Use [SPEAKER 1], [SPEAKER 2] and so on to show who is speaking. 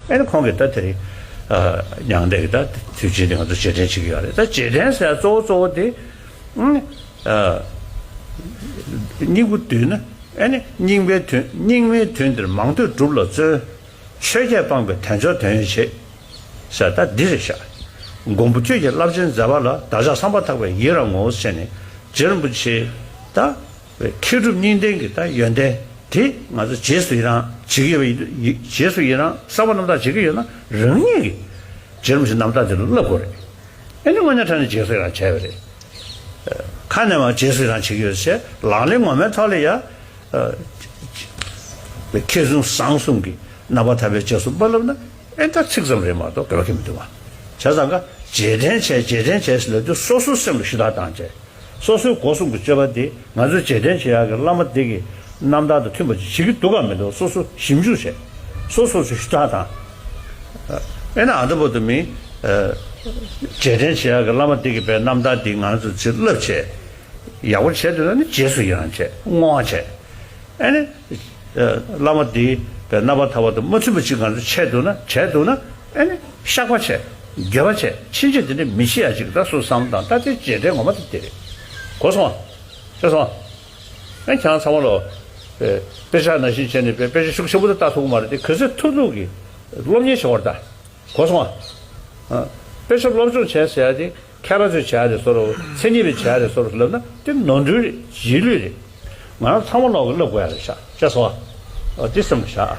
[SPEAKER 1] ཨེ་ན་ཁོང་གིས་ད་དེར་མྱང་འདས་ཀྱི་ད་དུས་ཆེན་དེ་ང་ཚོ་རྗེས་དྲན་བྱེད་ཀྱི་ཡོད་རེད་ད་རྗེས་དྲན་ཟེར་ཡ་གཙོ་བོ་གཙོ་བོ་དེ། སྙིང་པོ་བསྡུས་ན་ཨེ་ན་སྙིང་པའི་དོན་སྙིང་མའི་དོན་འདིར་མང་ཐོས་སྒྲུབ་ལ་བརྩོན། ཆོས་བརྒྱད་སྤངས་པའི་དོན་མཆོག་དོན་ཡོད་བྱེད། ཟེར་ད་འདི་རེད་བཞག། མགོན་པོ་ཁྱོད་ཀྱི་རླབས་ཆེན་མཛད་པ་ལ་བདག་ཅག་བསམ་པ་ཐག་པའི་ཡིད་རང་ངོ་བོ་ཆེ་ནས་རྗེ་རིན་པོ་ཆེའི་ད། མཁས་གྲུབ་གཉིས་ལྡན་གྱི་ད་ཡོན་ཏན་དེ་ང་ཚོ་རྗེས་སུ་ཡི་རང་བྱེད་ཀྱི་ཡོད་པ་རྗེས་སུ་ཡི་རང་གསར་པ་རྣམ་དག་བྱེད་ཀྱི་ཡོད་ན་རང་ཉིད་ཀྱི་རྗེས་རུམ་ཞིག་རྣམ་དག་དེ་ལ་བསླབ་དགོས་རེད། ཨེ་ནི་དངོས་གནས་ཕྲན་ནས་རྗེས་སུ་ཡི་རང་བྱས་པ་རེད། ཁ་ནས་བ་རྗེས་སུ་ཡི་རང་བྱེད་ཀྱི་ཡོད་ཟེར་ལག་ལེན་ངོ་མའི་ཐོག་ལ་ཡ། མཁས་བཙུན་བཟང་གསུམ་གྱི་རྣམ་པ་ཐར་པའི་རྗེས་སུ་དཔག་བསླབ་ན་ཨེ་འདྲ་ཚིག་ཙམ་རེད་མ་གཏོགས་དགོས་ཀྱི་མི་འདུག་བ། བྱས་ཙང་ཀ། རྗེས་དྲན་བྱས་རྗེས་དྲན་བྱས་ཟེར་ལབ་དུས་སོ་སོའི་སེམས་ལ་ཞུ་དག་བཏང་རྗེས། སོ་སོའི་སྒོ་སྲུང་གི་སྤྱོད་པ་དེ་ང་ཚོས་རྗེས་དྲན་བྱེད་ཡག་གི་བླ་མ་འདི་གི་རྣམ་ཐར་དང་མཐུན་པ་ཅིག་བྱེད་ཀྱི་འདུག་གམ་མི་འདུག་སོ་སོ་ཞིབ་འཇུག་བྱེད། སོ་སོར་ཞུ་དག་དང། ཨེ་ན་ཨ་འདྲ་པོ་དུ་མིན། རྗེས་དྲན་བྱེད་ཡག་གི་བླ་མ་འདི་གི་པའི་རྣམ་ཐར་འདི་ང་ཚོས་བྱིན་རླབས་བྱས། ཡག་པོ་བྱས་འདོད་ན་ནི་རྗེས་སུ་ཡི་རང་བྱས་བསྔོ་བ་བྱས། ཨེ་ན། བླ་མ་འདིའི་པའི་རྣམ་པ་ཐར་བ་དང་མ་མཐུན་པ་ཅིག་ང་ཚོས་བྱས་འདུག་ན་བྱས་འདུག་ན། ཨེ་ནི། བཤགས་པ་བྱས། དགེ་བ་བྱས། ཕྱིན་ཆད་འདི་འདྲའི་མི་ཤི་ཡ་ཅིག་ད་སུ་བསམ་དང་ད་དེ་བྱས་འདྲའི་ངོ་མ་ད་དེ་རེད། གོ་སོང་ཨ། ཤེས་སོང་ཨ། ཨེ་ཁྱེད་རང་ཚང་མ་ལོ། པེ། པེ་ཤ་ན་ཤིང་བྱས་ནས་པེ། པེ་ཤ་ཤུགས་ཆེན་པོ་ད་ལྟ་ཐུག་མ་རེད་དེ་གུས་སེ་ཐུག་ཐུག་གིས། སློབ་གཉེར་བྱེད་དགོས་རེད་ད། གོ་སོང་ཨ། ཨ། པེ་ཤ་སློབ་སྦྱོང་བྱས་ཟེར་ཡ་དེ་ཁ་ར་ཚོས་བྱས་ཡ་རེད་སོ་རོ། མཚན་ཉིད་པས་བྱས་ཡ་རེད་སོ་རོ་ལབ་ན་དེ་ནོར་འཁྲུལ་རེད་རྗེས་ལུས་རེད། ང་རང་ཚང་མ་ལོག་གིས་བསླབ་དགོས་ཡ་རེད་ཤག་ཤེས་སོང་ཨ། ཨོ་དེ་སེམས་ལ་བཞག་ཨ།